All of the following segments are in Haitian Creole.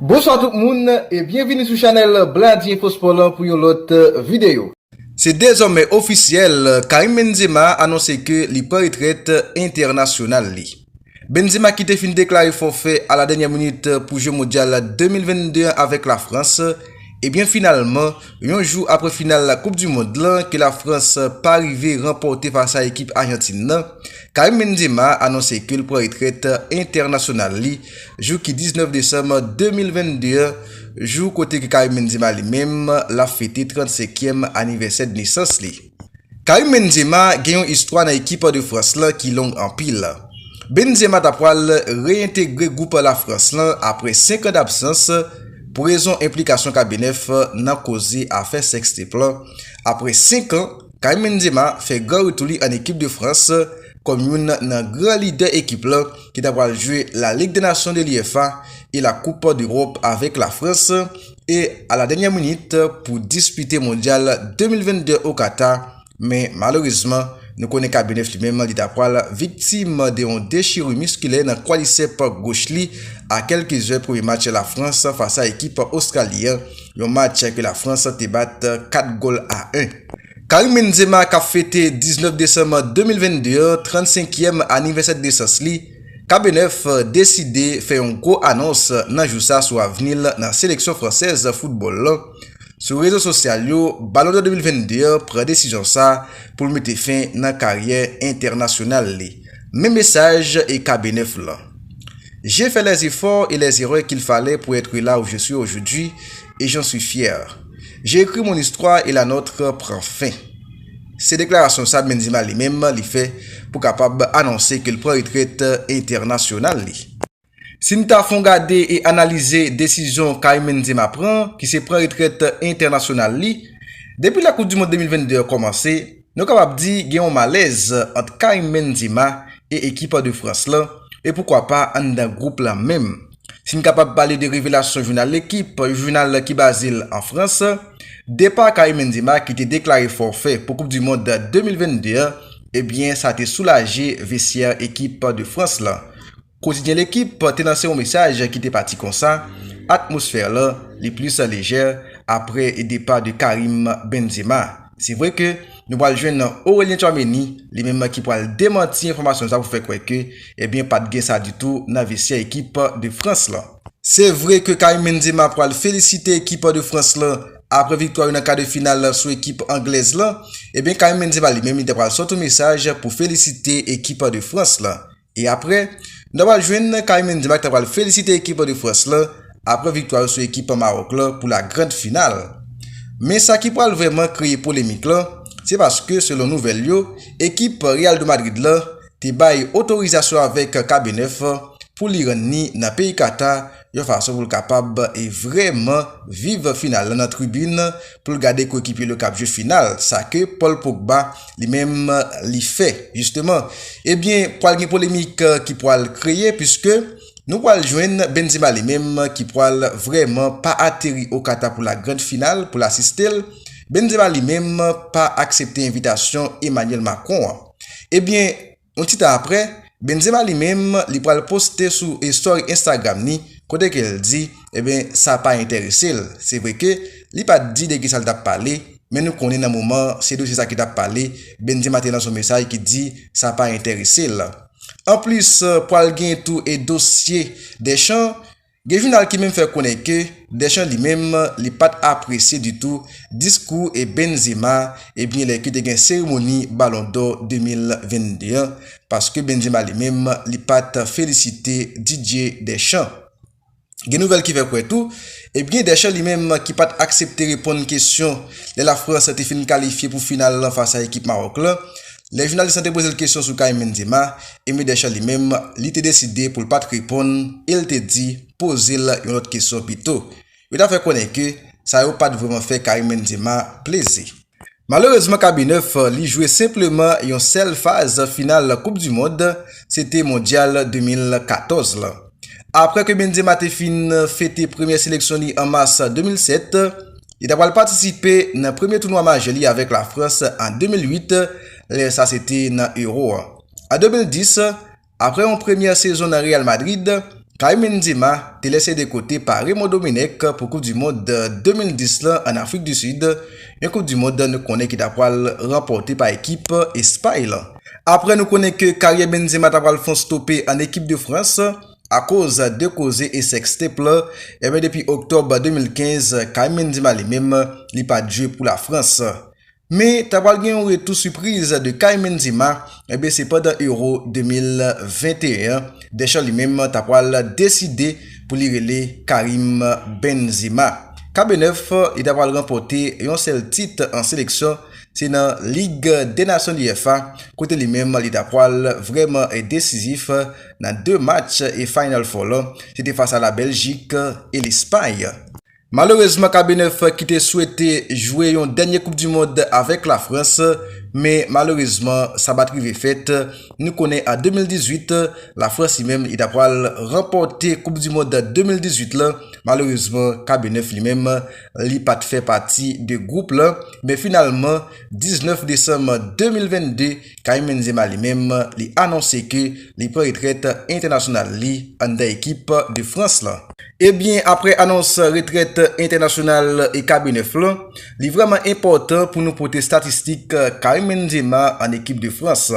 Bonswa tout moun e byenvini sou chanèl Bladi Enfo Spò lan pou yon lòt videyo. Se dezòmè ofisyèl, Karim Benzema anonse ke li pran retrèt entènasyonal li. Benzema ki te fin deklare fòfè a la dènyè minit pou jwe Mondyal 2022 an avèk la Frans, ebyen finalman yon jou apre final koup du mond lan ke la Frans pa rive ranpòte fas a ekip Ajantin nan, Karim Benzema anonse ke l pran retrèt entènasyonal li. Jou ki 19 desanm 2022 an, jou kote ke Karim Benzema li menm l ap fete 35 kièm anivèsè de nesans li. Karim Benzema gen yon istwa nan ekip de Frans lan ki long anpil. Benzema ta pwal reyentegre gwoup la Frans lan apre 5 an dabsans pou rezon enplikasyon Kabenèf nan koze afè sextape lan. Apre 5 an, Karim Benzema fè gran retou li an ekip de Frans kòm youn nan gran lidè ekip lan. ki ta pral jwe la Ligue des Nations de l'UEFA e la Coupe d'Europe avèk la Frans e a la dènyè minit pou dispite Mondyal 2022 o Kata men malerezman nou konnen Kabenev li menm li ta pral viktim de yon dechiru miskilè nan kwadisèp goch li a kèlke zè premye match la Frans fas a ekip Ostrali an, yon match ke la Frans te bat 4 gòl a 1. Karim Benzema kap fete 19 desanm 2022 an 35 yèm anivèsè de nesans li, KBNF deside fè yon gwo anons nan jou sa sou avni l nan seleksyon fransèz foutbòl lan. Sou rezo sosyal yo, Balon dò 2022 an pran desizyon sa pou l mete fen nan karyè entènasyonal li. Men mesaj e KBNF lan. J'ai fait les efforts et les erreurs qu'il fallait pour être là où je suis aujourd'hui, et j'en suis fier. J'ai écrit mon histoire et la nôtre prend fin. Se deklarasyon sa Benzema li menm li fè pou kapab anonse ke l pran retrèt entènasyonal li. Si n ta fon gade e analize desizyon Karim Benzema pran ki se pran retrèt entènasyonal li depi lè koup du mond 2022 an kòmanse, Nou kapab di gen yon malèz ant Karim Benzema e ekip de Frans lan, e poukwa pa anndan gwoup la menm. Si n kapab pale de revelasyon jounal L'Equipe, yon jounal ki baze l an Frans, depa Karim Benzema ki te deklare fòfè pou koup di mond 2022 an, ebyen sa te soulaje vestyè ekip de Frans lan. Kotidyen Lekip te lanse yon mesaj ki te pati konsa, Atmosfè lan li plis lejè apre depa de Karim Benzema. Se vre ke nou pral jwenn Aurelien Tchouaméni, li menm ki pral demanti enfòmasyon sa pou fè kwè ke ebyen pat gen sa ditou nan vestyè ekip de Frans lan. Se vre ke Karim Benzema pral felisite ekip de Frans lan apre viktwa yo nan ka de final sou ekip anglèz lan, ebyen Karim Benzema li menm li ta pral sòt yon mesaj pou felisite ekip de Frans lan. E aprè, nou ta pral jwenn Karim Benzema ki ta pral felisite ekip an de Frans lan aprè viktwa yo sou ekip an Mawòk lan pou la grand final. Men sa ki pral vrèman kreye polemik lan, se paske selon nouvèl yo, ekip Real de Madrid lan te bay otorizasyon avèk Kabenèf pou li rann ni nan peyi Kata yon fason pou l kapab vreman viv final la nan tribin pou l gade koekipye l yo k ap jwe final, sa ke Paul Pogba li menm li fè jisteman. Ebyen pwal gen polemik ki pwal kreye puiske nou pwal jwenn Benzema li menm ki pwal vreman pa ateri o Kata pou la grand final pou l asiste l, Benzema li menm pa aksepte envitasyon Emmanuel Macron an. Ebyen. Yon ti tan aprè, Benzema li menm li pral poste sou story Instagram ni kote ke l di eben sa pa enterese l. Se vre ke li pa t di de kisa l t ap pale, men nou konnen nan moman an se dosye sa ki t ap pale, Benzema te lanse yon mesaj ki di sa pa enterese l. Anplis pral gen tou e dosye Deschamps, Gen jounal ki menm fè konnen ke Deschamps li menm li pat apresye ditou diskou e Benzema ebyen lè ke te gen seremoni balon dò 2022 an paske Benzema li menm li pat felisite Didier Deschamps. Gen nouvèl ki fè kwè tou ebyen Deschamps li menm ki pat aksepte reponn kesyon lè la Frans te fin kalifye pou final lan fas a ekip Maroc lan Lè jounalis lan te poze l kesyon sou kay Mendima, Amy Deschamps li menm, li te deside pou l pa t reponn e l te di poze l yon lòt kesyon pito. Yo ta fè konnen ke sa yo pa t vrèman fè Karim Mendima plezi. Malerezman K-Bnef li jwe senpleman yon sèl faz final koup du mond, se te mondyal 2014 lan. Aprè ke Benzema te fin fete premyè seleksyon li an mas 2007, Li ta pral patisipe nan premye tounwa majè li avèk Lafrans an 2008, lè sa se te nan Euro a. An 2010, aprè yon premyè sezon nan Real Madrid, Karim Benzema te lèse de kote pa Raymond Domenech pou koup du mond 2010 lan an Afrik du Sud, yon koup du mond nou konnen ki ta pral ranpòte pa ekip Espay lan. Aprè nou konnen ke karyè Benzema ta pral fon stope an ekip de Frans, Akoz de koze e sextape lan, enben depi Oktòb 2015, Kaïm Benzema li menm, li pat jwe pou la Frans. Men, ta pral gen yon retou sipriz de Kaïm Benzema, enben se pandan Euro 2021 an, Deschamps li menm ta pral deside pou li rele Karim Benzema. Kabe 9, li ta pral ranpòte yon sèl tit an seleksyon, se nan Lig dè Nasyon UEFA, kote li menm li ta pral vrèman desizif, nan 2 match e Final Four la se te fas a la Bèljik e Lespay. Malerezman Kabenèf ki te swete jwe yon dènye koup du mond avèk la Frans men malerezman sa bat rive fèt, nou konnen an 2018 la Frans li menm li ta pral ranpòte koup du mond 2018 la, malerezman Kabenèf li menm li pat fè pati de group la men finalman 19 desanm 2022. Karim Benzema li menm li anonse ke li pran retrèt entènasyonal li anndan ekip de Frans lan. Ebyen aprè anons retrèt entènasyonal e Kabe 9 lan, li vrèman enpòtan pou nou pote statistik Karim Benzema an ekip de Frans.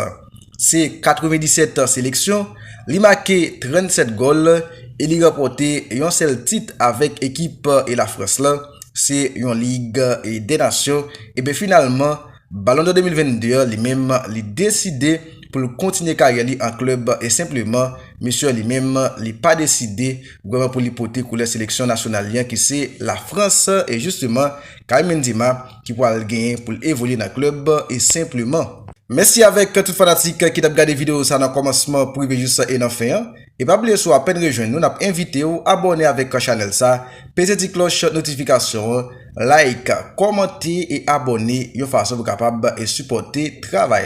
Se 97 seleksyon, li make 37 gòl e li ranpòte yon sèl tit avèk ekip e la Frans lan, se yon lig e dè nasyon, ebyen finalman, Ballon d'Or 2022 an li menm li deside pou l kontinye karyè li an klèb e senpleman mesye an li menm li pa deside vrèman pou li pote koulè seleksyon nasyonal li an ki se la Frans e jisteman Karim Benzema ki pwal genyen pou l evolye nan klèb e senpleman. Mèsi avèk tout fanatik ki tap gade video sa nan kòmansman pou rive jis e nan fen an. E pa bliye si w apèn rejwenn nou nap envite w abòne avèk chanèl sa, peze ti klòch notifikasyon an, like, kòmante e abòne yon fason pou kapab sipòte travay la.